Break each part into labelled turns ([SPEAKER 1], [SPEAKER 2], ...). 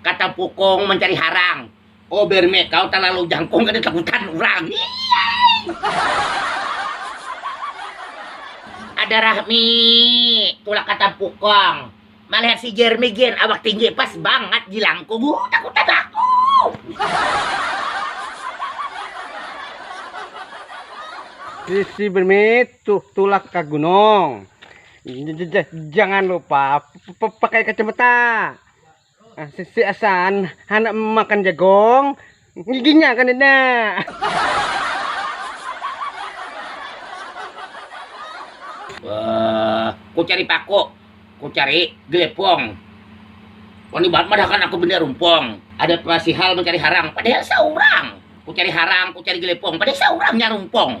[SPEAKER 1] Kata pukung mencari harang. Oh berme, kau terlalu jangkung kada takutan urang. Ada rahmi, tulak kata pukung. Malihat si Jeremy gin awak tinggi pas banget jilangku uh, takutan
[SPEAKER 2] aku. Sisi bermit tuh tulak ke gunung. Jangan lupa pakai kacamata. Ah, sisi asan anak makan jagung Giginya kan ada.
[SPEAKER 1] Wah, ku cari paku, ku cari gelepong. Wani banget madahakan aku benda rumpong. Ada pasihal mencari harang, padahal seorang. Ku cari harang, ku cari gelepong, padahal seorangnya rumpong.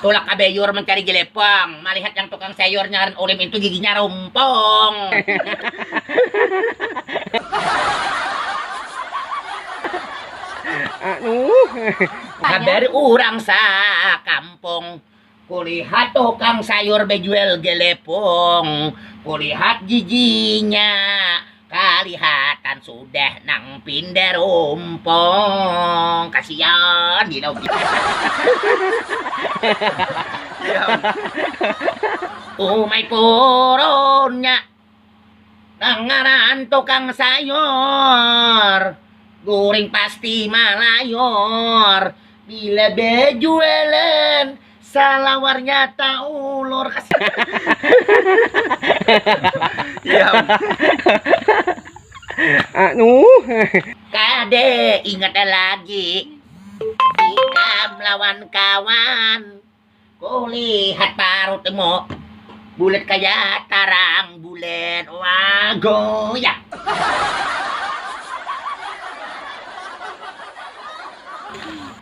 [SPEAKER 1] Tulak ka Beyur mencari Jelepong, malihat yang tukang sayur ngaran Ulim itu giginya rumpong. Habari urang sa kampung, kulihat tukang sayur bejual Jelepong, kulihat giginya Kalihatan sudah nang pinda rumpong. Kasian di lobi. Umai purunnya nang ngaran tukang sayur guring pasti malayur bila bejualan Salawarnya taulur kas. Iya. Anu. Kade ingat lagi. Ikam lawan kawan. Kulihat parutmu. Bulat kaya tarang bulan. Wah, goyang.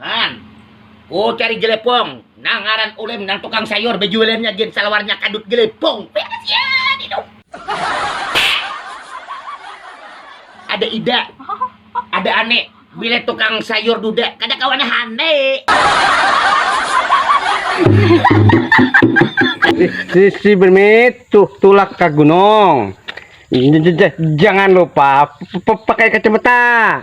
[SPEAKER 1] Pan, ku cari Jelepong, nang ngaran Ulem nang tukang sayur bejualannya gin salawarnya kadut Jelepong. Beres ya, hidup. Ada Ida, ada Ane, bila tukang sayur duda, kada kawa nah Ane.
[SPEAKER 2] Sisi bermit tuh tulak ke gunung. Jangan lupa pakai kacamata.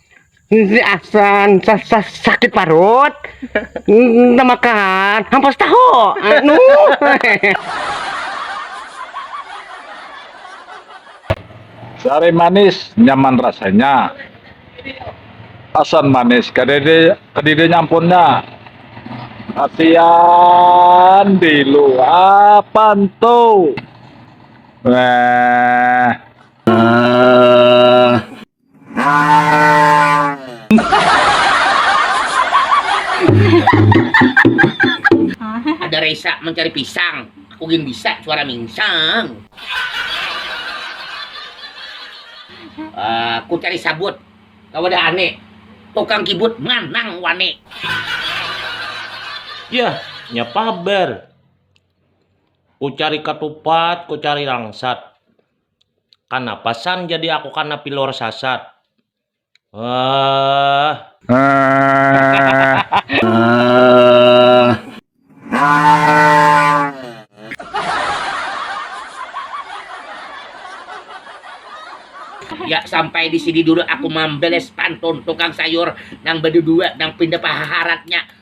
[SPEAKER 2] si asan sa, sa, sakit parut nda makan hampas tahu anu
[SPEAKER 3] Sari manis nyaman rasanya. Asan manis kadede kadide nyampunnya. Kasian dilu apan tuh. Wah.
[SPEAKER 1] Ada resa mencari pisang, aku gin bisa suara mingsang. Aku cari sabut ka wadah ane, tukang kibut manang wani.
[SPEAKER 4] Yah, nya paber. Ku cari katupat, ku cari langsat. Kanapa San jadi aku kana pilor sasat?
[SPEAKER 1] Ya sampai di sini dulu aku mambeles pantun tukang sayur nang bedudua nang pinda pahaharatnya.